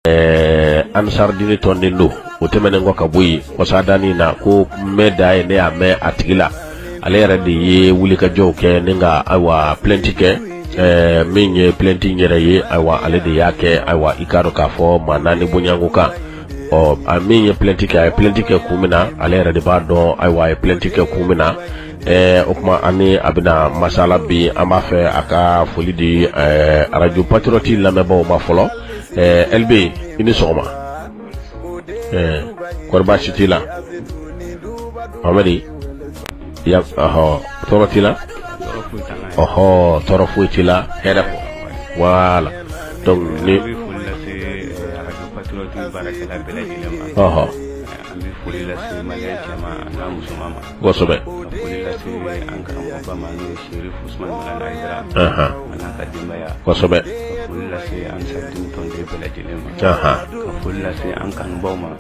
ɛɛ ansaridini tɔnden don o tɛmɛnen kɔ ka bɔ yen kɔsadanin na ko mɛ da ye ne y'a mɛn a tigi la ale yɛrɛ de ye wulikajɔw kɛ ni ka ayiwa plɛnti kɛ ɛɛ min ye plɛnti yɛrɛ ye ayiwa ale de y'a kɛ ayiwa i k'a dɔn k'a fɔ maa naani bonyako kan ɔ a min ye plɛnti kɛ a ye plɛnti kɛ kun min na ale yɛrɛ de b'a dɔn ayiwa a ye plɛnti kɛ kun min na o tuma an ni a bɛna masala bi an b'a fɛ a ka foli di arajo patiroti lamɛnbaaw ma fɔlɔ ɛlibi i ni sɔgɔma kori baasi t' la amadi tɔɔrɔ t' la ɔhɔ tɔɔrɔ foyi t' la hɛrɛ wala kosɛbɛ kosɛbɛ foli lase an ka dentɔn de bɛɛ lajɛlen ma ka foli lase an kanubaw ma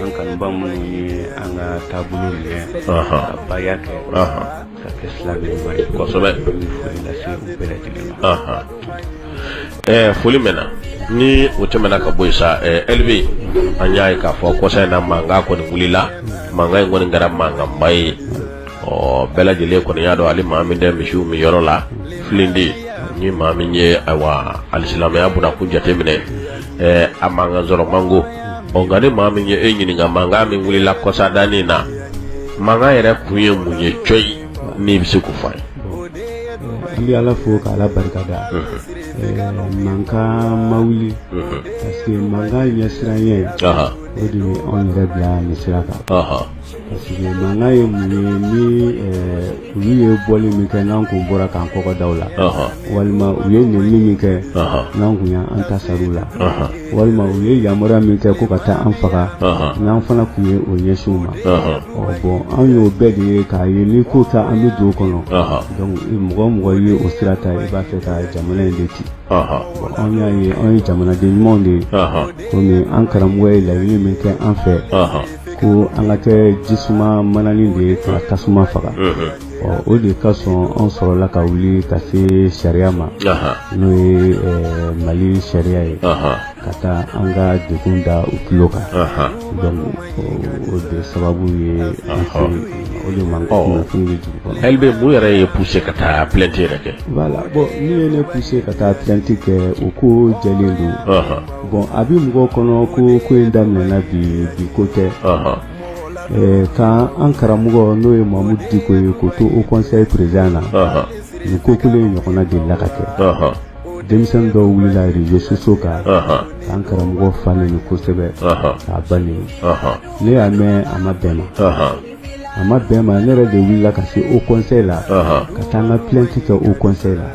an kanubaw minnu ye an ka taabolo minɛ ka baaya kɛ ka kɛ silamɛba ye kosɛbɛ foli lase u bɛɛ lajɛlen ma ɛɛ foli mɛnna ni o tɛmɛna ka bɔ yen sa ɛɛ ɛlibi an y'a ye k'a fɔ kɔsa in na mankan kɔni wulila mankan in kɔni kɛra mankanba ye ɔ bɛɛ lajɛlen kɔni y'a dɔn hali maa min tɛ misiw min yɔrɔ la filindi ni maa min ye ayiwa alisilamɛya bunakun jateminɛ ɛɛ a mankan sɔrɔ man go ɔ nka ni maa min ye e ɲininka mankan min wulila kɔsa danni na mankan yɛrɛ kun ye mun ye cɔyi n'i bɛ se k'o fɔ an ye an bɛ ala fo ka ala barika da mankan ma wuli parce que mankan ɲɛsiran ye o de ye anw yɛrɛ bila nin sira kan parce que mankan ye mun ye ni olu ye bɔli min kɛ n'an kun bɔra k'an kɔgɔ da u la walima u ye nɛni min kɛ n'an kun y'an ta sara u la walima u ye yamaruya min kɛ ko ka taa an faga n'an fana tun ye o ɲɛsin u ma bɔn an y'o bɛɛ de ye k'a ye ni ko ta an bɛ don kɔnɔ donc mɔgɔ o mɔgɔ ye o sira ta i b'a fɛ ka jamana in de ci anw y'a ye anw ye jamanaden ɲumanw de ye komi an karamɔgɔ ye laɲini min kɛ an fɛ ko an ka kɛ jisuma mananin de ye ka tasuma faga o de kosɔn an sɔrɔla ka wuli ka se sariya ma n'o ye mali sariya ye ka taa an ka degun da u tulo kan donc o de sababu ye o de mankan bɛ dugu kɔnɔ ɛlibi mun yɛrɛ y'i puse ka taa plɛnti yɛrɛ kɛ wala bɔn min ye ne puse ka taa plɛnti kɛ o ko jɛlen don bɔn a bɛ mɔgɔw kɔnɔ ko ko in daminɛna bi bi ko tɛ k' an karamɔgɔ n'o ye Mahmoud Dicko ye k'o to haut conseil président na nin ko kelen in ɲɔgɔnna delila ka kɛ denmisɛn dɔw wulila réseaux sociaux kan k'an karamɔgɔ fa neni kosɛbɛ k'a ba neni ne y'a mɛn a ma bɛn n ma a ma bɛn n ma ne yɛrɛ de wulila ka se haut conseil la ka taa an ka plainte kɛ haut conseil la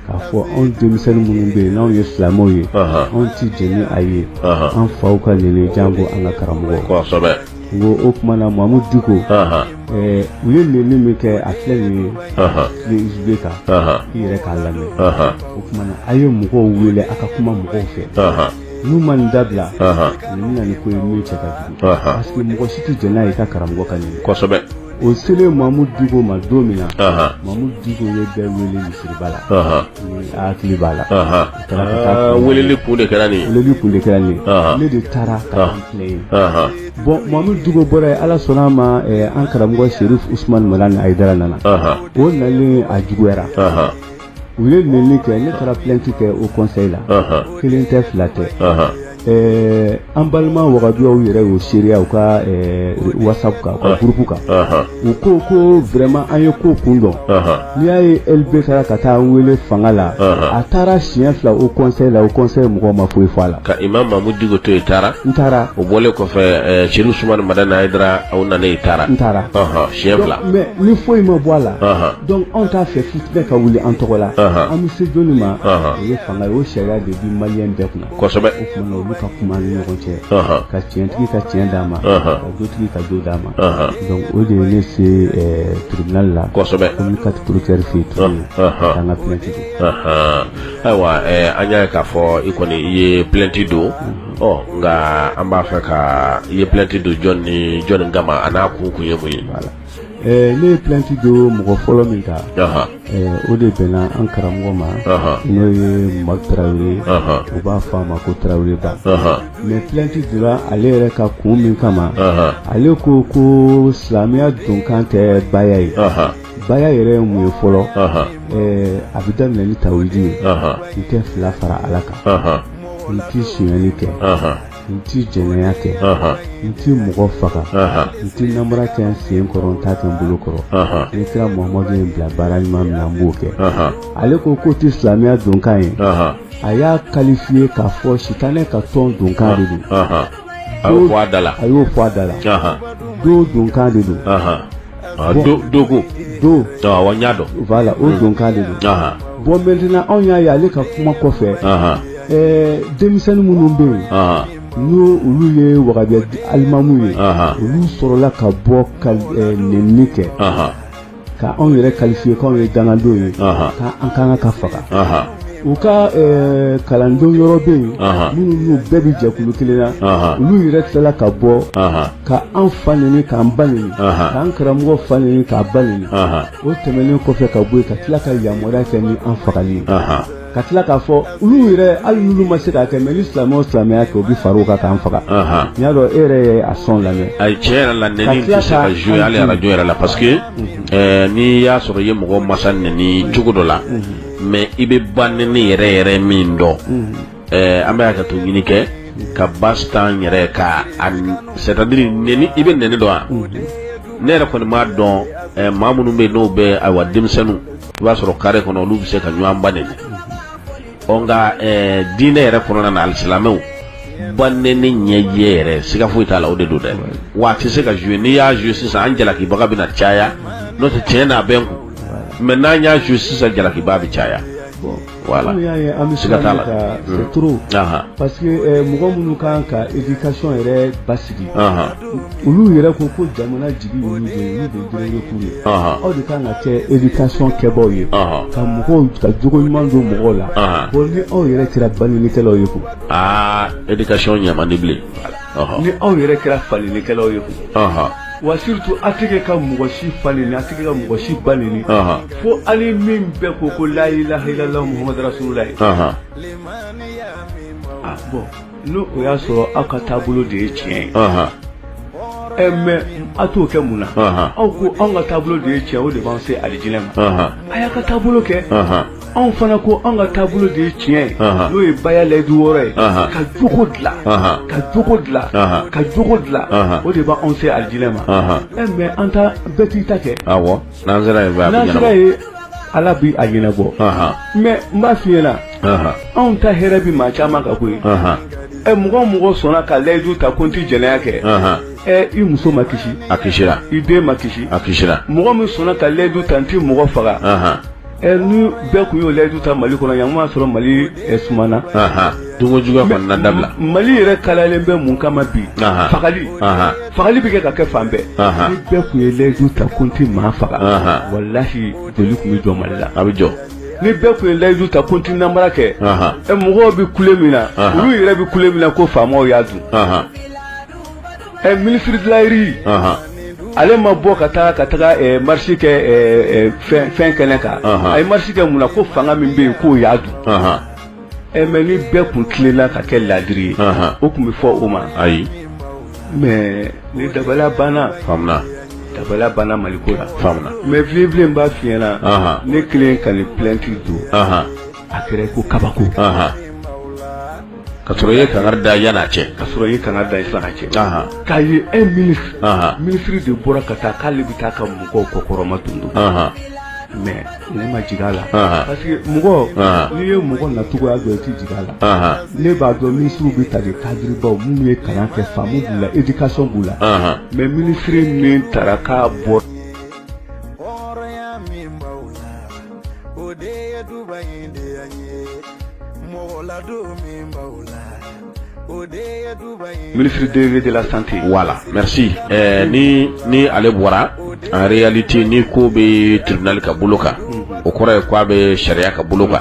k'a fɔ anw denmisɛnnin minnu bɛ yen n'anw ye silamɛw ye anw tɛ jɛn n'a ye an faw ka neni janko an ka karamɔgɔ ko o tuma na Mahmoud Dicko u ye neni min kɛ a filɛ nin ye USB kan i yɛrɛ k'a lamɛn o tuma na a ye mɔgɔw wele a ka kuma mɔgɔw fɛ n'u ma nin dabila nin bɛ na ni ko ye min cɛ ka jugu parce que mɔgɔ si tɛ jɛn n'a ye ka karamɔgɔ ka neni kosɛbɛ o selen Mahmoud Dicko ma don min na Mahmoud Dicko ye bɛɛ wele misiriba la hakili b'a la weleli kun de kɛra nin ne de taara k'a filɛ yen bon Mahmoud Dicko bɔra yen ala sɔnna a ma an karamɔgɔ serif usman madani ayidara nana o nalen a juguyara u ye neni kɛ ne taara plainte kɛ haut conseil la kelen tɛ fila tɛ Ɛɛ an balima wahabiyaw yɛrɛ y'o seereya u ka WhatsApp kan u ka groupe kan u ko ko vraiment an ye ko kun dɔn n'i y'a ye LB taara ka taa an wele fanga la a taara siɲɛ fila haut conseil la haut conseil mɔgɔ ma foyi fɔ a la ka imam Mahmoud Dicko to yen n taara n taara o bɔlen kɔfɛ serif usman madani ayidara aw nalen yen n taara n taara siɲɛ fila mais nin foyi ma bɔ a la donc anw t'a fɛ fitinɛ ka wuli an tɔgɔ la an bɛ se jɔnni ma o ye fanga ye o sariya de bi maliens bɛɛ kunna kosɛbɛ olu ka kuma ni ɲɔgɔn cɛ ka tiɲɛtigi ka tiɲɛ d'a ma ka jotigi ka jo d'a ma donc o de ye ne se tribunal la kosɛbɛ commune quatre procureur fɛ yen ka taa an ka plainte don ayiwa an y'a ye k'a fɔ i kɔni i ye plainte don ɔ nka an b'a fɛ ka i ye plainte don jɔn ni jɔnni kama a n'a kun kun ye mun ye Ne ye plainte don mɔgɔ fɔlɔ min kan o de bɛnna an karamɔgɔ ma n'o ye madu tarawele ye u b'a fɔ a ma ko tarawele ba mais plainte donna ale yɛrɛ kan kun min kama ale ko ko silamɛya donkan tɛ baya ye baya yɛrɛ ye mun ye fɔlɔ a bɛ daminɛ ni tawhidi ye n tɛ fila fara ala kan n tɛ sonyali kɛ n tɛ jɛnɛya kɛ n tɛ mɔgɔ faga n tɛ namara kɛ n sen kɔrɔ n t'a kɛ n bolo kɔrɔ ni kira Muhamadu ye n bila baara ɲuman min na n b'o kɛ ale ko k'o tɛ silamɛya donkan ye a y'a qualifié k'a fɔ sitanɛ ka tɔn donkan de don a y'o fɔ a da la tɔn donkan de don. dogo don n y'a dɔn voilà o don k'ale don bɔn maintenant anw y'a ye ale ka kuma kɔfɛ denmisɛnnin minnu bɛ yen n'o olu ye wahabiya alimamu ye olu sɔrɔla ka bɔ ka nɛnini kɛ ka anw yɛrɛ qualifier k'anw ye dangadenw ye k' an ka kan ka faga u ka eh, kalandenw yɔrɔ bɛ yen minnu n'u bɛɛ bɛ jɛkulu kelen na olu yɛrɛ tilala ka bɔ ka an fa neni k'an ba neni k'an karamɔgɔ fa neni k'a ba neni o tɛmɛnen kɔfɛ ka bɔ yen ka tila ka yamaruya kɛ ni an fagali ye ka tila k'a fɔ olu yɛrɛ hali n'olu ma se k'a kɛ mɛ ni silamɛ o silamɛ y'a kɛ u bɛ fara u kan k'an faga n y'a dɔn e yɛrɛ ye a sɔn lamɛn ayi tiɲɛ yɛrɛ la nɛni tɛ se ka jouer hali arajo yɛrɛ la parce que eh, n'i y'a sɔrɔ i ye mɔgɔ masa nɛni cogo dɔ la mɛ i bɛ ba nɛni yɛrɛ yɛrɛ min dɔn an bɛ hakɛto ɲini kɛ ka ba tan yɛrɛ ka c'est-à-dire i bɛ nɛni dɔn wa ne yɛrɛ kɔni m'a dɔn maa minnu bɛ n'o bɛ ayiwa denmisɛnnin i b'a sɔrɔ carré kɔnɔ olu bɛ se ka ɲɔgɔn ba nɛni nka diinɛ yɛrɛ kɔnɔna na alisilamɛw ba nɛni ɲɛjɛ yɛrɛ siga foyi t'a la o de don dɛ wa a tɛ se ka jouer n'i y'a jouer sisan an jalakibaga bɛna caya n'o tɛ tiɲɛ n'a bɛ n kun mɛ n'an y'a jouer sisan jalakibaa bɛ caya wala an bɛ siga t'a la parce que eh, mɔgɔ minnu kan ka éducation yɛrɛ basigi olu yɛrɛ ko ko jamana jigi y'olu de ye aw de kan ka kɛ éducation kɛbaw ye ka mɔgɔw ka jogo ɲuman don mɔgɔw la bɔn ni aw yɛrɛ kɛra banɛnikɛlaw ye ko aa éducation ɲɛ man di bilen ni aw yɛrɛ kɛra fanɛnikɛlaw ye wa surtout a tɛ ka mɔgɔ si fa nɛni a tɛ ka mɔgɔ si ba nɛni fo hali min bɛɛ ko ko la ilaha ilala Muhamadu rasulullahi bɔn n' o y'a sɔrɔ aw ka taabolo de ye tiɲɛ ye mɛ a t'o kɛ mun na aw ko anw ka taabolo de ye tiɲɛ o de b'an se alijinɛ ma a y'a ka taabolo kɛ anw fana ko an ka taabolo de ye tiɲɛ ye n'o ye baya layidu wɔɔrɔ ye ka jogo dilan ka jogo dilan ka jogo dilan o de b'anw se alijinɛ ma ɛ mɛ an ta bɛɛ t'i ta kɛ awɔ n'an sera yen n'an sera yen ala bi a ɲɛnabɔ mɛ n b'a f'i ɲɛna anw ta hɛrɛ bi maa caman kan koyi ɛ mɔgɔ o mɔgɔ sɔnna ka layidu ta ko n ti jɛnɛya kɛ ɛ i muso ma kisi a kisira i den ma kisi a kisira mɔgɔ min sɔnna ka layidu ta n ti mɔgɔ faga Ɛ ni bɛɛ kun y'o layidu ta Mali kɔnɔ yan, n ko y'a sɔrɔ Mali sumana, anhan, donko juguya kɔni na dabila, Mali yɛrɛ kalayalen bɛ mun kama bi, anhan, fagali, anhan, fagali bɛ kɛ ka kɛ fan bɛɛ, anhan, ni bɛɛ kun ye layidu ta ko n tɛ maa faga, anhan, walahi joli kun bɛ jɔ Mali la, a bɛ jɔ, ni bɛɛ kun ye layidu ta ko n tɛ namara kɛ, anhan, ɛ mɔgɔw bɛ kule min na, anhan, olu yɛrɛ bɛ kule min na ko faamaw y'a dun, anhan Ɛ minisiri bilari ale ma bɔ ka taa ka taga marisi kɛ fɛn kɛnɛ kan a ye marisi kɛ mun na ko fanga min bɛ yen k'o y'a dun ɛ mɛ ni bɛɛ tun tilenna ka kɛ laadiri ye o tun bɛ fɔ o ma ayi mɛ ni dabaliya banna dabaliya banna maliko la mɛ filɛ n b'a f'i ɲɛna ne kelen ka nin plɛti don a kɛra ko kabako ka ye kangari da yan cɛ ka ye kangari da fara cɛ k'a ye e mini minisiri de bɔra ka taa k'ale bɛ taa ka mɔgɔw kɔkɔrɔma dondon mɛ ne ma jigin a la parce que mɔgɔ n'i ye mɔgɔ nacogoya dɔn i tɛ jigin a la ne b'a dɔn minisiriw bɛ ta de kadiribaw minnu ye kalan kɛ faamu b'u la éducation b'u la mɛ minisiri min taara k'a bɔ hɔrɔnya min b'aw la o de ye duba in de yan ye mɔgɔ ladon min b'aw la minisiri de de la sante wala merci eh, ni ni ale bɔra en réalité ni ko bɛ tribunal ka bolo kan o kɔrɔ ye ko a bɛ sariya ka bolo kan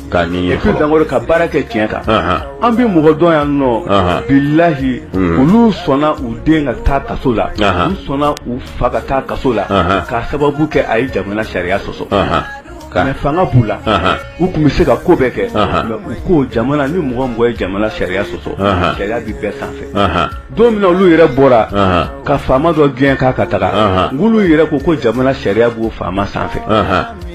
Ka dan ka baara kɛ tiɲɛ kan an bɛ mɔgɔ dɔn yan nɔ bilayi olu sɔnna u den ka taa kaso la u sɔnna u fa ka taa kaso la k'a sababu kɛ a ye jamana sariya sɔsɔ ka fanga b'u la u tun bɛ se ka ko bɛɛ kɛ u ko jamana ni mɔgɔ mɔgɔ ye jamana sariya sɔsɔ sariya bɛ bɛɛ sanfɛ don min na olu yɛrɛ bɔra ka faama dɔ gɛn k'a ka taga k'olu yɛrɛ ko jamana sariya b'o faama sanfɛ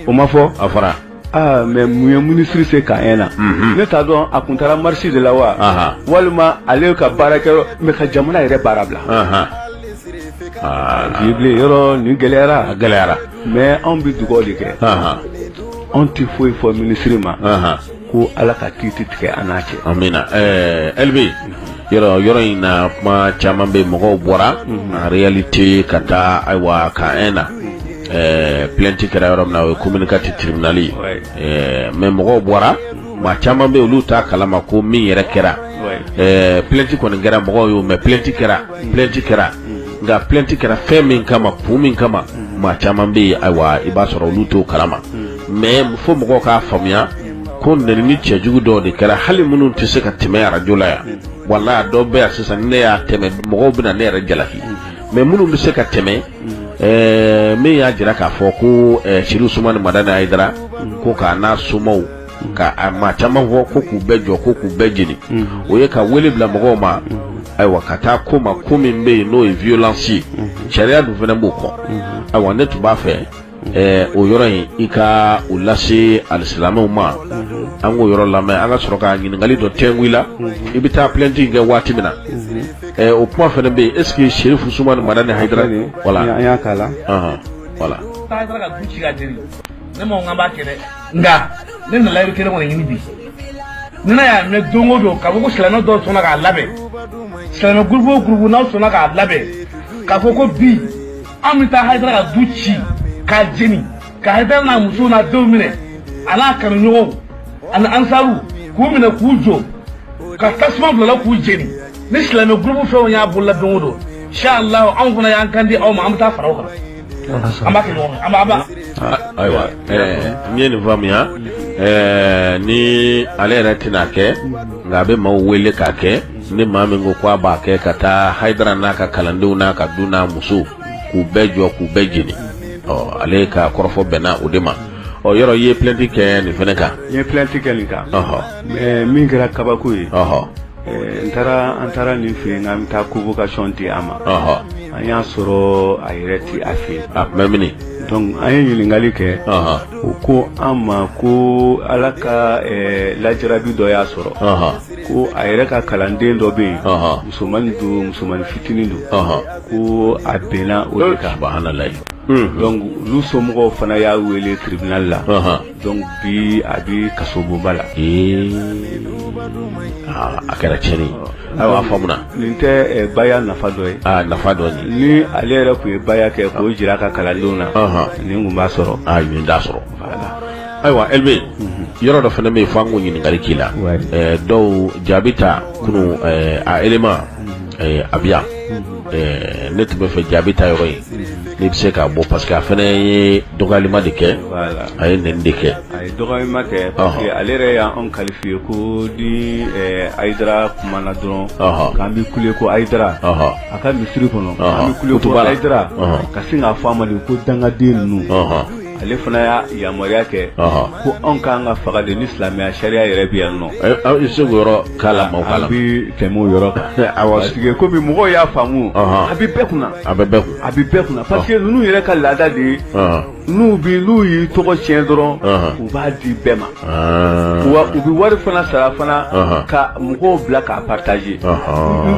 o ma fɔ a fɔra Aa mɛ mun ye minisiri se ka na ne t'a dɔn a tun taara marisi de la wa walima ale ka baarakɛyɔrɔ mɛ ka jamana yɛrɛ baara bila yɔrɔ nin gɛlɛyara gɛlɛyara mɛ anw bɛ dugawu de kɛ anw tɛ foyi fɔ minisiri ma ko ala ka kiiti tigɛ an n'a cɛ amiina ɛɛ yɔrɔ in na kuma caman bɛ mɔgɔw bɔra en réalité ka taa ayiwa ka e na plɛti kɛra yɔrɔ min na o ye komini katiri tiribinali mɛ mɔgɔw bɔra maa caman bɛ olu t'a kalama ko min yɛrɛ kɛra plɛti kɔni kɛra mɔgɔw y'o mɛn plɛti kɛra plɛti kɛra nka plɛti kɛra fɛn min kama kun min kama maa caman bɛ yen ayiwa i b'a sɔrɔ olu t'o kalama mɛ fo mɔgɔw k'a faamuya ko nɛnini cɛjugu dɔw de kɛra hali minnu tɛ se ka tɛmɛ arajo la yan walayi dɔw bɛ yan sisan ne y'a tɛmɛ mɔgɔw bɛna ne yɛrɛ jalaki mɛ minnu bɛ se ka tɛmɛ eh, min y'a jira k'a fɔ ko eh, Sɛrifu Usumani Madani Hayidara ko k'a n'a somaw ka maa caman fɔ ko k'u bɛɛ jɔ ko k'u bɛɛ jeni o ye ka wele bila mɔgɔw ma ayiwa ka taa ko ma ko min bɛ yen n'o ye violence ye sariya dun fana b'o kɔ ayiwa ne tun b'a fɛ Ɛɛ o yɔrɔ in i ka o lase alisilamɛw ma an k'o yɔrɔ lamɛn an ka sɔrɔ ka ɲininkali dɔ tɛnku i la i bɛ taa plainte kɛ waati min na o kuma fana bɛ yen est-ce que Serifu Usumani Madani Hayidara voilà an y'a k'a la voilà Hayidara ka du ci k'a jeni ne man kan k'a kɛ dɛ nka ne nana yɔrɔ kelen kɔni ɲini bi n y'a mɛ don o don k'a fɔ ko silamɛ dɔw sɔnna k'a labɛn silamɛ gurupu o gurupu n'a sɔnna k'a labɛn k'a fɔ ko bi an bɛ taa Hayidara ka du ci k'a jeni ka Hayidara n'a muso n'a denw minɛ a n'a kanuɲɔgɔnw ani ansaru k'u minɛ k'u jɔ ka tasuma bil'a la k'u jeni ni silamɛ gurupu fɛnw y'a bolola don o don inshallah anw fana y'an kan di aw ma an bɛ taa fara aw kan an b'a kɛ ɲɔgɔn fɛ an b'a ban ayiwa n ye nin faamuya ni ale yɛrɛ tɛna kɛ nka a bɛ maaw wele k'a kɛ ni maa min ko k ko a b'a kɛ ka taa Hayidara n'a ka kalandenw n'a ka du n'a muso k'u bɛɛ jɔ k'u bɛɛ jeni ɔ ale ka kɔrɔfɔ bɛnna o de ma o yɔrɔ i ye plainte kɛ nin fana kan n ye plainte kɛ nin kan min kɛra kabako ye ɔɔ n taara an taara nin fɛ yen an bɛ taa convocation di a ma an y'a sɔrɔ a yɛrɛ tɛ a fɛ yen a tun bɛ minɛ donc an ye ɲininkakali kɛ u ko an ma ko ala ka lajarabi dɔ y'a sɔrɔ ko a yɛrɛ ka kalanden dɔ bɛ yen musomannin don musomannin fitinin don ko a binna o de kan subhanallah donc olu somɔgɔw fana y'a wele tribunal la donc bi a bɛ kasobonba la a kɛra tiɲɛni ayiwa a faamuna nin tɛ baya nafa dɔ ye a nafa dɔ ni ale yɛrɛ tun ye baya kɛ k'o jira a ka kalandenw na nin tun b'a sɔrɔ a nin t'a sɔrɔ ayiwa Elbe yɔrɔ dɔ fana bɛ yen fo an ka ɲininkali k'i la dɔw Jabi ta kunun a élément a bi yan ne tun b'a fɛ Jabi ta yɔrɔ in n'i bɛ se k'a bɔ parce que a fana ye dɔgɔyalima de kɛ a ye nɛni de kɛ a ye dɔgɔyalima kɛ parce que ale yɛrɛ y'an qualifié ko ni Hayidara kumana dɔrɔn k'an bɛ kule ko Hayidara a ka misiri kɔnɔ an bɛ kule ko Hayidara ka sin k'a fɔ a ma de ko dangaden ninnu ale fana y'a yamaruya kɛ ko anw kan ka faga de ni silamɛya sariya yɛrɛ bɛ yan nɔ aw se k'o yɔrɔ k'a la an bɛ tɛmɛ o yɔrɔ kan kɔmi mɔgɔw y'a faamu a bɛ bɛɛ kunna a bɛ bɛɛ kun a bɛ bɛɛ kunna parce que ninnu yɛrɛ ka laada de ye n'u bɛ n'u y'i tɔgɔ tiɲɛ dɔrɔn u b'a di bɛɛ ma wa u bɛ wari fana sara fana ka mɔgɔw bila k'a partager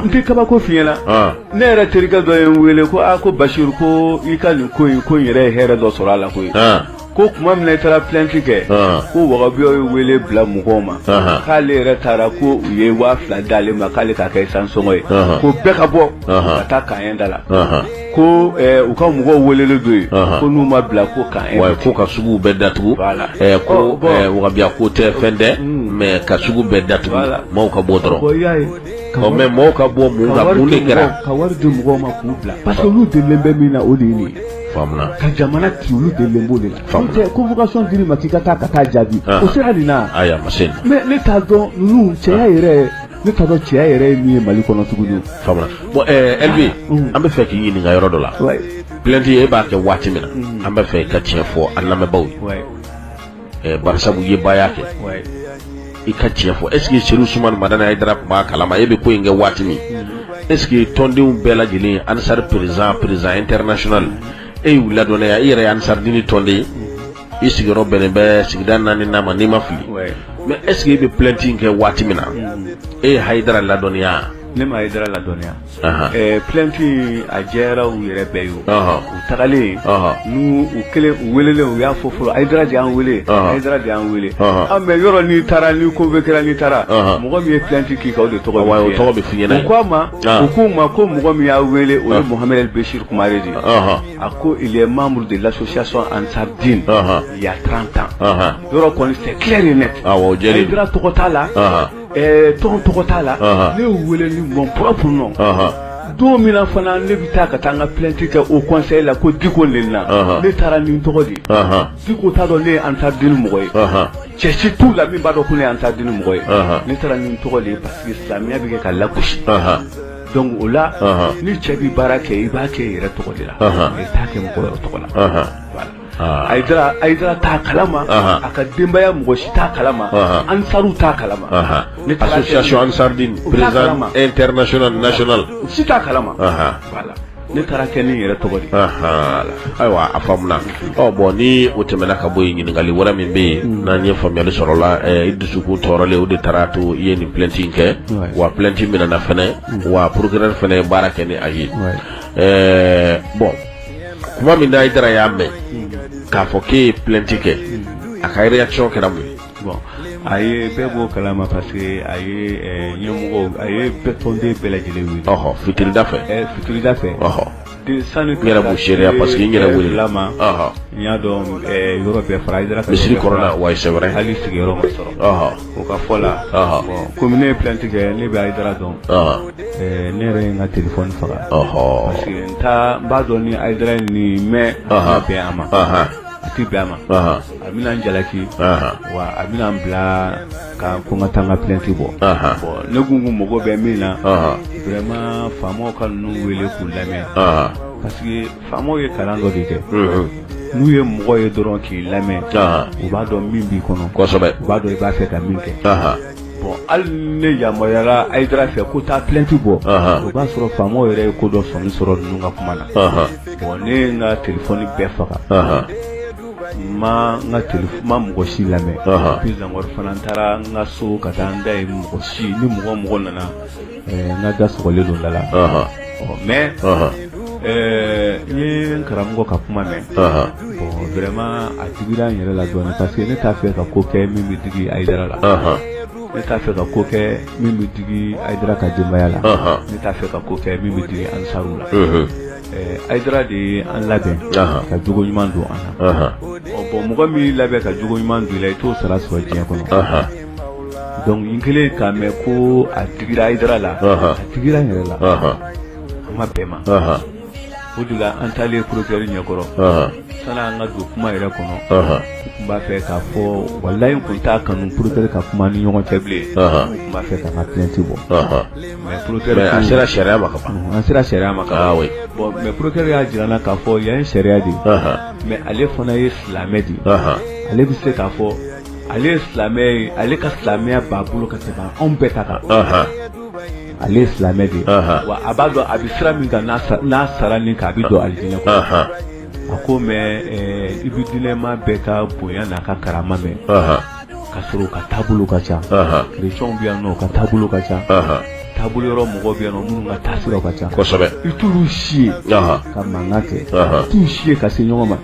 n tɛ kabako f'i ɲɛna ne yɛrɛ terikɛ dɔ ye n wele ko a ko basiru ko i ka nin ko in ko in yɛrɛ ye hɛrɛ dɔ sɔrɔ a la koyi ko kuma min na i taara plainte kɛ ko wagabiyaw ye wele bila mɔgɔw ma k'ale yɛrɛ taara ko u ye waa fila d'ale ma k'ale ka kɛ sansi sɔngɔ ye ko bɛɛ ka bɔ ka taa Camp un da la ko u ka mɔgɔw welelen don yen ko n'u ma bila ko kaɲɛ ko ka suguw bɛɛ datugu ko wagabiya ko tɛ fɛn dɛ mais ka sugu bɛɛ datugu maaw ka bɔ dɔrɔn Mais mɔgɔw ka bɔ mun kɛra ka wari di mɔgɔw ma k'u bila parce que olu delilen bɛ min na o de ye ka jamana ci olu delilen b'o de la convocation dir'i ma k'i ka taa ka taa jaabi o sera nin na mais ne t'a dɔn ninnu cɛya yɛrɛ ne t'a dɔn cɛya yɛrɛ ye min ye mali kɔnɔ tuguni bon Elbi an bɛ fɛ k'i ɲininka yɔrɔ dɔ la plainte e b'a kɛ waati min na an bɛ fɛ i ka tiɲɛ fɔ an lamɛnbagaw ye barisabu ye baaya kɛ i ka tiɲɛ fɔ est-ce que Chérif Ousmane Madani Hayidara tun b'a kalama e bɛ ko in kɛ waati min est-ce que tɔndenw bɛɛ lajɛlen Ansar président président international e y'u ladɔnniya i yɛrɛ ansaridiini tɔnden i sigiyɔrɔ bɛnnen bɛ sigida naaninan ma ni n ma fili mais est-ce que e bɛ plainte in kɛ waati min na e ye Hayidara ladɔnniya plainte a jɛyara u yɛrɛ bɛɛ ye u tagalen n u kelen u wele u y'a fɔ fɔlɔ Hayidara y'an weele Hayidara y'an weele mais yɔrɔ n'i taara n'i convoquera n'i taara mɔgɔ min ye plainte k'i kan o de tɔgɔ tɔgɔ ko a ma u k'u ma ko mɔgɔ min y'aw weele o ye Mohamed El Béchir Kumare de a ko membre de l'association Ansar Dine il y a trente ans yɔrɔ kɔni c'est clair et net Hayidara tɔgɔ t'a la Ɛɛ tɔgɔ tɔgɔ t'a la ne y'u weele ni mon propre nom don min fana ne bɛ taa ka taa n ka plainte kɛ Haut Conseil la ko diko le na ne taara ni n tɔgɔ de Diko t'a dɔn ne ye Ansar Dine mɔgɔ ye cɛ si t'u la min b'a dɔn ko ne ye Ansar Dine mɔgɔ ye ne taara ni n tɔgɔ de parce que silamɛya bɛ kɛ ka lagosi donc o la ni cɛ bɛ baara kɛ i b'a kɛ i yɛrɛ tɔgɔ de la i t'a kɛ mɔgɔ tɔgɔ la Hayidara t'a kalama a ka denbaya mɔgɔ si t'a kalama ansari t'a kalama association Ansar Dine président international national si t'a kalama ne taara a kɛ ni n yɛrɛ tɔgɔ ayiwa a faamuna bon ni o tɛmɛna ka bɔ yen ɲininkali wɛrɛ min bɛ yen n'an ye faamuyali sɔrɔ a la i dusukun tɔɔrɔlen o de taara a to i ye nin plainte in kɛ wa plainte minɛna fana wa procureur fana ye baara kɛ ni a ye bon kuma min na Hayidara y'a mɛn k'a fɔ k'e ye plainte kɛ a ka réaction kɛra mun ye bon a ye bɛɛ b'o kalama parce que a ye eh, ɲɛmɔgɔw a ye bɛɛ tɔnden bɛɛ lajɛlen wele ɔhɔ fitirida fɛ Eh, fitirida fɛ ɔhɔ De- sani n yɛrɛ b'o seereya parce que n yɛrɛ welela ma ɔhɔ n y'a dɔn eh, yɔrɔ bɛɛ fara Hayidara ka misiri yɔrɔ bɛɛ kɔnɔna fara. wayi c'est vrai hali sigiyɔrɔ ma sɔrɔ ɔhɔ O ka fɔ la comme ne ye plainte kɛ ne bɛ Haidara dɔn ne yɛrɛ ye n ka téléphone faga parce que n b'a dɔn ni Haidara ye nin mɛn a bɛn a ma a tɛ bɛn a ma a bɛna n jalaki wa a bɛna n bila ka ko n ka taa n ka plainte bɔ bon ne tun ko n mago bɛ min na vraiment faamaw ka ninnu wele k'u lamɛn Faamaw ye kalan dɔ de kɛ n'u ye mɔgɔ ye dɔrɔn k'i lamɛn u b'a dɔn min b'i kɔnɔ u b'a dɔn i b'a fɛ ka min kɛ bon hali ne yamaruyara Haidara fɛ ko taa plainte bɔ o b'a sɔrɔ faamaw yɛrɛ ye ko dɔ sɔmi sɔrɔ ninnu ka kuma na bon ne ye n ka téléphone bɛɛ faga n ma mɔgɔ si lamɛn puis encore fana n taara n ka so ka taa n da ye mɔgɔ si ni mɔgɔ mɔgɔ nana N ka da sɔgɔlen don da la mais n ye n karamɔgɔ ka kuma mɛn bon vraiment a digira n yɛrɛ la dɔɔnin parce que ne t'a fɛ ka ko kɛ min bɛ digi Haidara la ne t'a fɛ ka ko kɛ min bɛ digi Haidara ka denbaya la ne t'a fɛ ka ko kɛ min bɛ digi Ansaruw la Haidara de ye an labɛn ka jogo ɲuman don an na bon mɔgɔ min y'i labɛn ka jogo ɲuman don i la i t'o sara sɔrɔ diɲɛ kɔnɔ Donc n kɛlen k'a mɛn ko a digira Haidara la a digira n yɛrɛ la an ma bɛn ma o de la an taalen procureur ɲɛkɔrɔ sani an ka don kuma yɛrɛ kɔnɔ n tun b'a fɛ k'a fɔ walayi n tun t'a kanu procureur ka kuma ni ɲɔgɔn cɛ bilen n tun b'a fɛ ka n ka plainte bɔ mais an sera sariya ma an sera sariya ma mais procureur y'a jira n na k'a fɔ yan ye sariya de mais ale fana ye silamɛ de ale bɛ se k'a fɔ ale ye silamɛ ye ale ka silamɛya b'a bolo ka tɛmɛ anw bɛɛ ta kan ale ye silamɛ de wa a b'a dɔn a bɛ sira min kan n'a sara nin kan a bɛ don alijinɛ kɔnɔ a ko mais i bɛ diinɛma bɛɛ ka bonya n'a ka karama mɛn k'a sɔrɔ u ka taabolo ka ca chrétiens bɛ yan nɔ u ka taabolo ka ca taabolo wɛrɛ mɔgɔ bɛ yan nɔ minnu ka taasira ka ca kosɛbɛ i t'olu si ye ka mankan kɛ i t'u si ye ka se ɲɔgɔn ma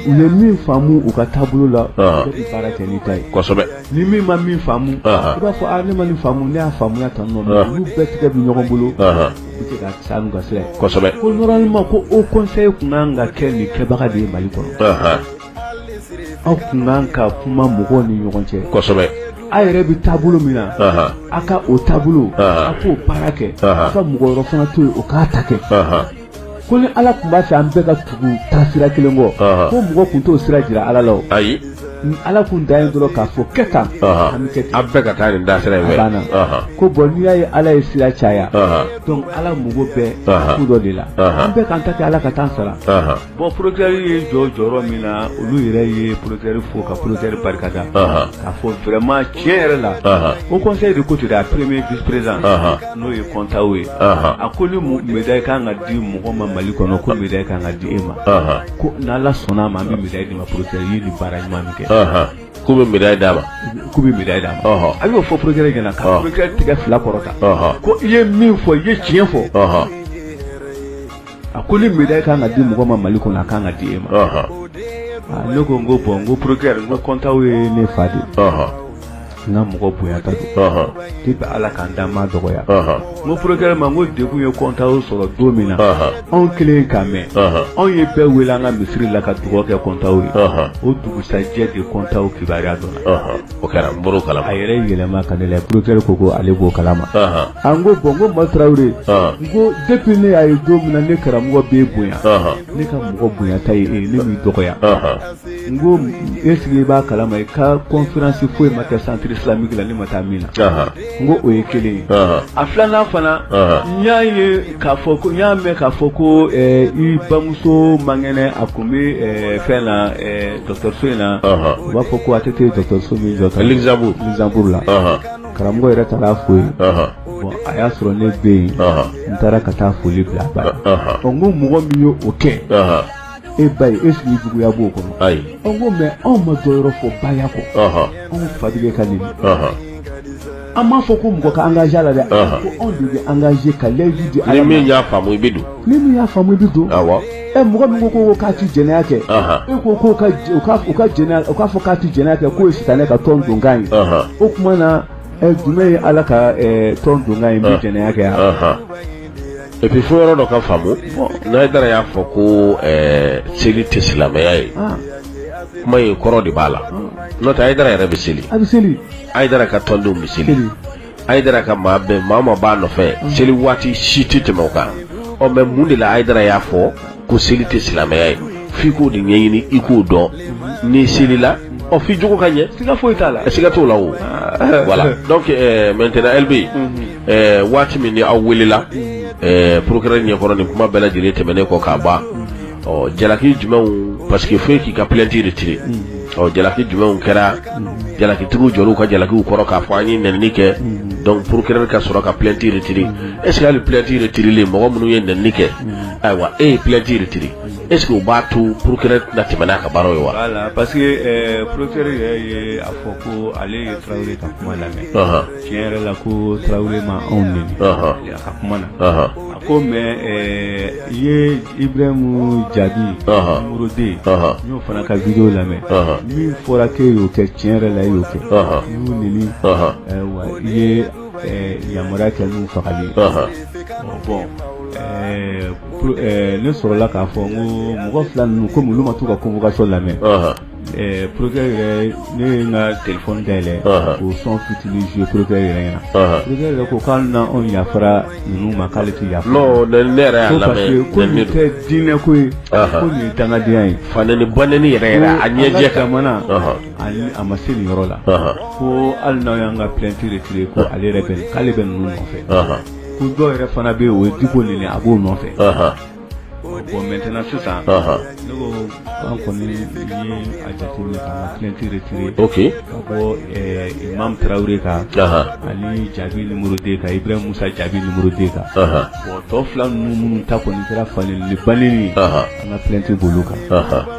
u ye min faamu u ka taabolo la bɛɛ bɛ baara kɛ n'i ta ye kosɛbɛ ni min ma min faamu i b'a fɔ a ne ma nin faamu ne y'a faamuya tan nɔ olu bɛɛ tigɛ bɛ ɲɔgɔn bolo ka taa n'u ka sira ye kosɛbɛ ko normalement ko o conseil kun kan ka kɛ nin kɛbaga de ye Mali kɔnɔ aw kun kan ka kuma mɔgɔw ni ɲɔgɔn cɛ kosɛbɛ aw yɛrɛ bɛ taabolo min na aw ka o taabolo aw k'o baara kɛ aw ka mɔgɔ wɛrɛ fana to yen o k'a ta kɛ ko ni ala tun b'a fɛ an bɛɛ ka tugu taasira kelen kɔ ko mɔgɔ kun t'o sira jira ala la ayi ala kun da ye dɔrɔn k'a fɔ kɛ tan an bɛ kɛ ten an bɛɛ ka taa nin da sira in fɛ banna ko bon n'i y'a ye ala ye sira caya donc ala mago bɛ ko dɔ de la an bɛɛ k'an ta kɛ ala ka taa an sara bon procureur ye jɔ jɔyɔrɔ min na olu yɛrɛ ye procureur fo ka procureur barika da k'a fɔ vraiment tiɲɛ yɛrɛ la Haut Conseil de côté a premier vice président n'o ye kɔntaw ye a ko ni médaille kan ka di mɔgɔ ma mali kɔnɔ ko médaille kan ka di e ma ko n' ala sɔnna a ma an bɛ médaille d'i ma procureur ye ni baara ɲuman min kɛ k'u bɛ médaille d'a ma k'u bɛ médaille d'a ma a y'o fɔ procureur ɲɛna ka procureur tigɛ fila kɔrɔta ko i ye min fɔ i ye tiɲɛ fɔ a ko ni médaille kan ka di mɔgɔ ma Mali kɔnɔ a kan ka di e ma. Ne ko n ko bon n ko procureur n ko kɔntaw ye ne fa de ye. n ka mɔgɔ bonyata don depuis ala ka n da n m'a dɔgɔya n ko procureur ma n ko degun ye kɔntaw sɔrɔ don min na anw kelen k'a mɛn anw ye bɛɛ wele an ka misiri la ka dugawu kɛ kɔntaw ye o dugusajɛ de kɔntaw kibaruya dɔn O kɛra n bɔr'o kalama, a yɛrɛ yɛlɛma ka ne lajɛ procureur ko ko ale b'o kalama, anhan, a n ko bon n ko Ma Tarawele, ɔn, n ko depuis ne y'a ye don min na ne karamɔgɔ b'e bonya, ɔnhɔn, ne ka mɔgɔ bonyata ye e ye ne m'i dɔgɔya, ɔnhɔn, n ko est ce que i b'a kalama i ka conférence foyi ma kɛ centre islamique la ne ma taa min na, anhan n ko o ye kelen ye a filanan fana n y'a ye k'a fɔ ko n y'a mɛn k'a fɔ ko i bamuso man kɛnɛ a tun bɛ fɛn na dɔgɔtɔrɔso in na u b'a fɔ ko ATT dɔgɔtɔrɔso min jɔ ka Luxembourg Luxembourg la karamɔgɔ yɛrɛ taara a fo yen bon a y'a sɔrɔ ne bɛ yen n taara ka taa foli bila a ba n ko mɔgɔ min ye o kɛ e ba ye est ce que juguya b'o kɔnɔ ayi n ko mais anw ma dɔ yɔrɔ fɔ baya kɔ anw fa tigɛ ka nin an m'a fɔ ko mɔgɔ ka engagé la dɛ ko anw de bɛ engagé ka layidu di ala min y'a faamu i bɛ don ni min y'a faamu i bɛ don awɔ ɛ mɔgɔ min ko ko k'a ti jɛnɛya kɛ e ko ko ka u ka u ka jɛnɛya u k'a fɔ k'a ti jɛnɛya kɛ k'o ye sitanɛ ka tɔn donkan ye o tuma na jumɛn ye ala ka tɔn donkan ye min jɛnɛya kɛ yan et puis fo yɔrɔ dɔ ka faamu n'ayidara y'a fɔ ko eh, seli tɛ silamɛya ye ah. kuma ye kɔrɔ de b'a la ah. n'o tɛ ayidara yɛrɛ bɛ seli ayidara ka tɔndenw bɛ seli ayidara ka maa bɛɛ maa ma b'a nɔfɛ ah. seli waati si tɛ tɛmɛ u kan ɔ mais mun de la ayidara y'a fɔ ko seli tɛ silamɛya ye f'i k'o de ɲɛɲini i k'o dɔn n'i selila ɔ f'i jogo ka ɲɛ siga foyi t'a la siga t'o la o ah. voilà donc euh, maintenant LB mhm. euh, waati min ni aw welela euh, procureur ɲɛkɔrɔ nin kuma bɛɛ lajɛlen tɛmɛnen kɔ k'a ban ɔ jalaki jumɛnw parce que fo i k'i ka plainte retirer mhm. ɔ jalaki jumɛnw kɛra mhm. jalakitigiw jɔr'u ka jalakiw kɔrɔ k'a fɔ an ye nɛnini kɛ donc procureur ka sɔrɔ ka plainte retirer est ce que hali plainte retirelen mɔgɔ minnu ye nɛnini kɛ Ayiwa e ye plainte retiré est-ce que o b'a to procureur tɛna tɛmɛ n'a ka baara ye wa parce que procureur yɛrɛ ye a fɔ ko ale ye tarawele ka kuma lamɛn tiɲɛ yɛrɛ la ko tarawele ma anw nɛni a ka kuma na a ko mais i ye ibrahim jaabi numéro deux n y'o fana ka vidéo lamɛn min fɔra k'e y'o kɛ tiɲɛ yɛrɛ la e y'o kɛ i y'u nɛni wa i ye Yamaruya kɛ n'u fagali bon ne sɔrɔla k'a fɔ ko mɔgɔ fila ninnu komi olu ma t'u ka convocation lamɛn procureur ne ye n ka téléphone dayɛlɛ k'o son fitinin jouer procureur yɛrɛ ɲɛna procureur yɛrɛ ko k'an na anw yafara ninnu ma k'ale tɛ yafa ko nin tɛ diinɛ ko ye ko nin ye dangadenya ye fanɛni banɛni yɛrɛ a ɲɛjɛ k'an jamana Ayi a ma se nin yɔrɔ la ko hali n'aw y'an ka plainte retiré ko ale yɛrɛ bɛ k'ale bɛ ninnu nɔfɛ ko dɔw yɛrɛ fana bɛ yen o ye diko nɛni a b'o nɔfɛ bon maintenant sisan ne ko an kɔni ye a jateminɛ k'an ka plainte retiré ka bɔ imam tarawele kan ani jaabi numéro deux kan ibrahim musa jaabi numéro deux kan bon tɔ fila ninnu minnu ta kɔni kɛra fanɛni banɛni an ka plainte b'olu kan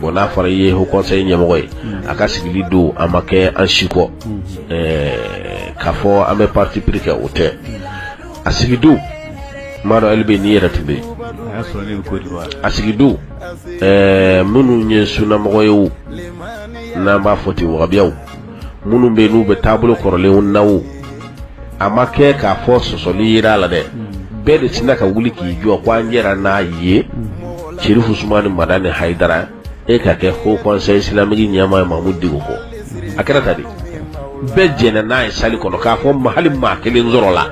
Bon n'a fɔra i ye haut conseil ɲɛmɔgɔ ye a ka sigili don a ma kɛ an si kɔ k'a fɔ an bɛ parti pris kɛ o tɛ a sigi don n m'a dɔn hali bi n'i yɛrɛ tun bɛ yen a sigi don minnu ye sunamɔgɔ ye wo n'an b'a fɔ ten wahabiyaw minnu bɛ n'u bɛ taabolo kɔrɔlenw na a ma kɛ k'a fɔ sɔsɔli yera a la dɛ hmm. bɛɛ de sinna ka wuli k'i jɔ ko an jɛra n'a ye hmm. serifu usumani madani hayidara e ka kɛ haut conseil islamique ɲɛmaa ye mamudu diko kɔ a kɛra tan de bɛɛ jɛnna n'a ye salle kɔnɔ k'a fɔ ma hali maa kelen sɔrɔla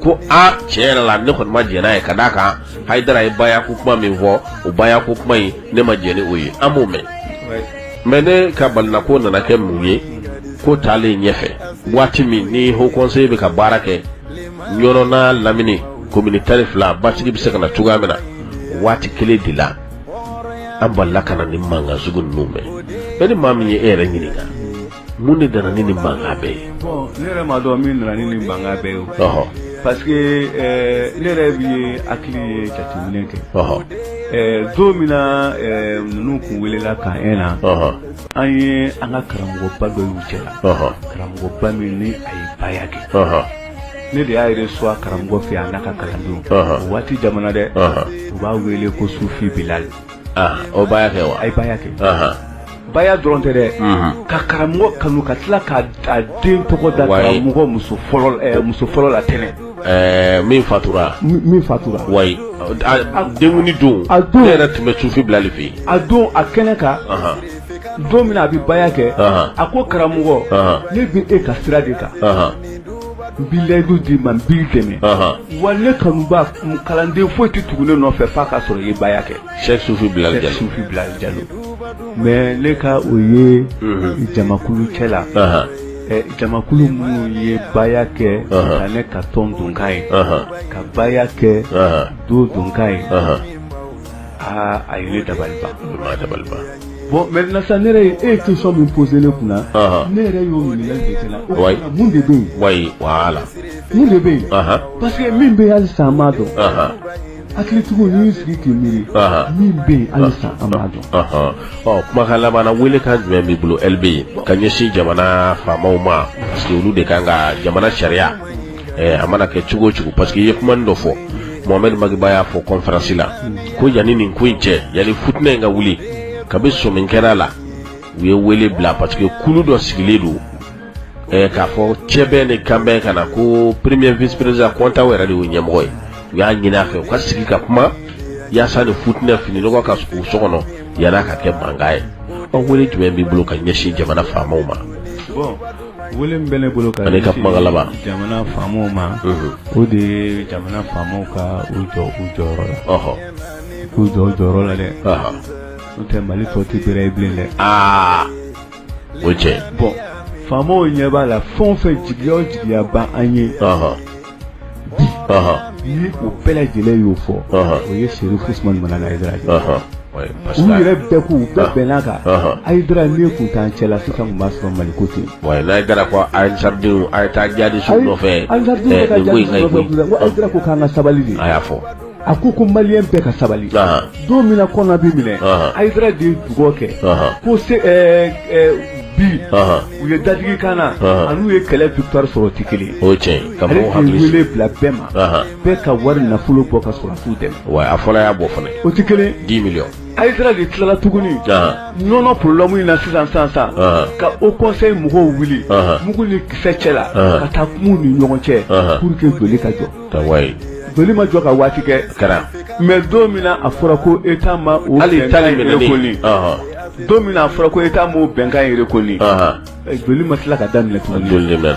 ko a tiɲɛ yɛrɛ la ne kɔni ma jɛn n'a ye ka d'a kan hayidara ye baya ko kuma min fɔ o baya ko kuma in ne ma jɛn ni o ye an m'o mɛn mais ne ka balina ko nana kɛ mun ye ko taalen ɲɛfɛ waati min ni haut conseil bɛ ka baara kɛ ɲɔnɔn n'a lamini komini tan ni fila basigi bɛ se ka na cogoya min na waati kelen de la an balila ka na nin mankan sugu ninnu mɛn mais ni maa min ye e yɛrɛ ɲininka mun de nana ni nin mankan bɛɛ ye ne yɛrɛ m'a dɔn min nana ni nin mankan bɛɛ ye ɔhɔ parce que ne yɛrɛ bi ye hakili ye jateminɛ kɛ ɔhɔ don min na ninnu kun welela ka ɲɛ na ɔhɔ an ye an ka karamɔgɔba dɔ y'u cɛ la ɔhɔ karamɔgɔba min ni a ye baya kɛ ɔhɔ ne de y'a yɛrɛ suwa karamɔgɔ fɛ a n'a ka kalandenw o waati jamanadenw b'a wele ko sufi bilali o baya kɛ wa a ye baya kɛ Baya dɔrɔn tɛ dɛ ka karamɔgɔ kanu ka tila ka den tɔgɔ da karamɔgɔ muso fɔlɔ la Tɛnɛ ɛɛ min fatura min fatura wa den don a don yɛrɛ tun bɛ Sufi Bilali fɛ yen a don a kɛnɛ kan don min na a bɛ baya kɛ a ko karamɔgɔ ne bɛ e ka sira de kan n bi layidu d'i ma n b'i dɛmɛ wa ne kanuba kalanden foyi tɛ tugu ne nɔfɛ f'a ka sɔrɔ i ye baya kɛ Cheikh Sufi Bilali Jalo mais ne ka o ye jamakulu cɛ la jamakulu minnu ye baya kɛ ne ka tɔn donkan ye ka baya kɛ do donkan ye aa a ye ne dabali ban bon maintenant sa ne yɛrɛ e ye question min poser ne kun na ne yɛrɛ y'o minɛ de bɛ yen la de bɛ yen parce que min bɛ halisa an m'a dɔn hakilitigiw n'i y'i sigi k'i miiri min bɛ yen halisa an m'a dɔn ɔ kumakan laban na welekan jumɛn b'i bolo LB ka ɲɛsin jamana faamaw ma parce que olu de ka kan ka jamana sariya a mana kɛ cogo o cogo parce que i ye kuma dɔ fɔ Mohamed Maki Ba y'a fɔ conférence la ko yanni nin ko in cɛ yanni futinɛ in ka wuli kabi sɔmi kɛra a la u ye wele bila parce que kulu dɔ sigilen don k'a fɔ cɛbɛn ni kanbɛn kan na ko premier vice président Konta yɛrɛ de y'u ɲɛmɔgɔ ye u y'a ɲini a fɛ u ka sigi ka kuma yaasa ni futinɛ fini nɔgɔ ka ko so kɔnɔ yan'a ka kɛ mankan ye ɔ wele jumɛn b'i bolo ka ɲɛsin jamana faamaw ma wele min bɛ ne bolo ka ne ka kuma laban jamana faamaw ma o de ye jamana faamaw ka u jɔ u jɔyɔrɔ la k'u jɔ u jɔyɔrɔ la dɛ n'o tɛ Mali tɔ tɛ bɛrɛ ye bilen dɛ o cɛ bon faamaw ɲɛ b'a la fɛn fɛn jigiya o jigiya b'an ye ni u bɛɛ lajɛlen y'o fɔ o ye Cheikh Ousmane Madani Haidara u yɛrɛ bɛɛ k'u bɛɛ bɛnna a kan Haidara n'a tun t'an cɛ la fo ka b'a sɔrɔ Mali ko ten wa ni Haidara ko Ansaridenw a ye taa jaabi su nɔfɛ ko k'an ka sabali de a y'a fɔ A ko ko malien bɛɛ ka sabali don min na Kɔna bɛ minɛ Haidara de dugawu kɛ ko bi u ye dadigi k'an na anw ye kɛlɛ victoire sɔrɔ tɛ kelen ale ka wele bila bɛɛ ma bɛɛ ka wari nafolo bɔ ka sɔrɔdasi dɛmɛ wa a fɔlɔ y'a bɔ fana o tɛ kelen dix millions Haidara de tilala tuguni Ɲɔnɔ problème in na sisan san san ka haut conseil mɔgɔw wuli mugu ni kisɛ cɛ la ka taa kuma u ni ɲɔgɔn cɛ pour que joli ka jɔ ka wayi joli ma jɔ ka waati kɛ kɛra mais don min a fɔra ko État ma o hali ta koli don min a fɔra ko État ma o bɛnkan yɛrɛ kɔni joli ma tila ka daminɛ tuguni joli mɛn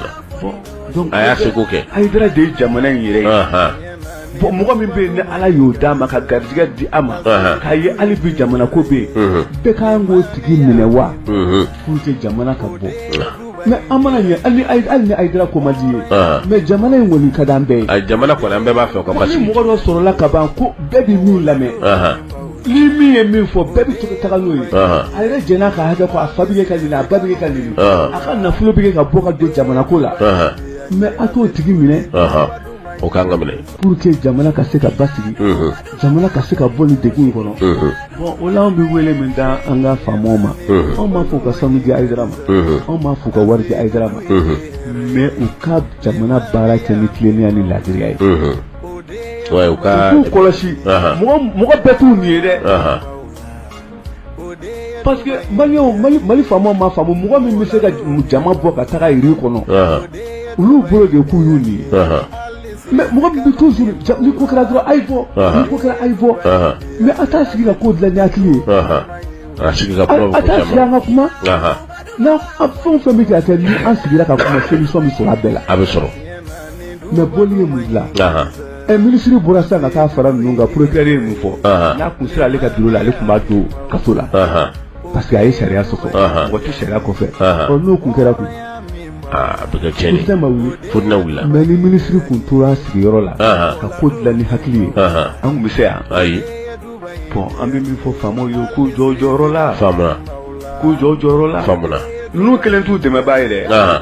a y'a seko kɛ Ayidara de ye jamana in yɛrɛ ye bon mɔgɔ min bɛ yen ni ala y'o d'a ma ka garijɛgɛ di a ma k'a ye hali bi jamana ko bɛ yen bɛɛ kan k'o tigi minɛ wa k'u tɛ jamana ka bɔ mais an mana ye hali ni Ayidara ko man di ye mais jamana in kɔni ka d'an bɛɛ ye jamana an bɛɛ b'a fɛ ni mɔgɔ dɔ sɔrɔla ka ban ko bɛɛ bɛ min lamɛn ni min ye min fɔ bɛɛ bɛ to ka taga n'o ye a yɛrɛ jɛnn'a ka hakɛ kɔ a fa bɛ kɛ ka nɛni a ba bɛ kɛ ka nɛni a ka nafolo bɛ kɛ ka bɔ ka don jamana ko la mais a t'o tigi minɛ o kan ka minɛ Pour que jamana ka se ka basigi jamana ka se ka bɔ nin degun in kɔnɔ bon o la an bɛ wele min da an ka faamaw ma anw m'a fɔ u ka sanu di Ayidara ma anw m'a fɔ u ka wari di Ayidara ma mais u ka jamana baara kɛ ni tilennenya ni laadiriya ye k'u kɔlɔsi mɔgɔ bɛɛ t'u ɲin ye dɛ Parce que mali faamaw m'a faamu mɔgɔ min bɛ se ka jama bɔ ka taga yiri kɔnɔ olu bolo de k'u y'u ɲin ye mais mɔgɔ min bɛ toujours ni ko kɛra dɔrɔn a ye bɔ ni ko kɛra a ye bɔ mais a t'a sigi ka ko dilan ni hakili ye a sigi ka kuma n'a an fɛn o fɛn bɛ kɛ kɛ ni an sigira ka kuma solution bɛ sɔrɔ a bɛɛ la a bɛ sɔrɔ mais bɔli ye mun dilan Ɛ minisiri bɔra sisan ka taa fara ninnu kan procureur ye mun fɔ? Anhan. N'a kun sera ale ka bureau la, ale kun b'a don kaso la. Anhan. Parce que a ye sariya sɔsɔ. Anhan. Mɔgɔ tɛ sariya kɔfɛ. Anhan. Ɔ n'o kun kɛra dun? Aa a bɛ kɛ tiɲɛni ye. Fitinɛ ma wuli. Fitinɛ wulila. Mais ni minisiri kun tora a sigiyɔrɔ la. Anhan. Ka ko dilan ni hakili ye. Anhan. An kun bɛ se yan. Ayi. Bon an bɛ min fɔ faamaw ye u k'u jɔ u jɔyɔrɔ la. Faamuna. K'u jɔ u jɔyɔrɔ la. Faamuna. Ninnu kelen t'u dɛmɛbaa ye dɛ. Anhan.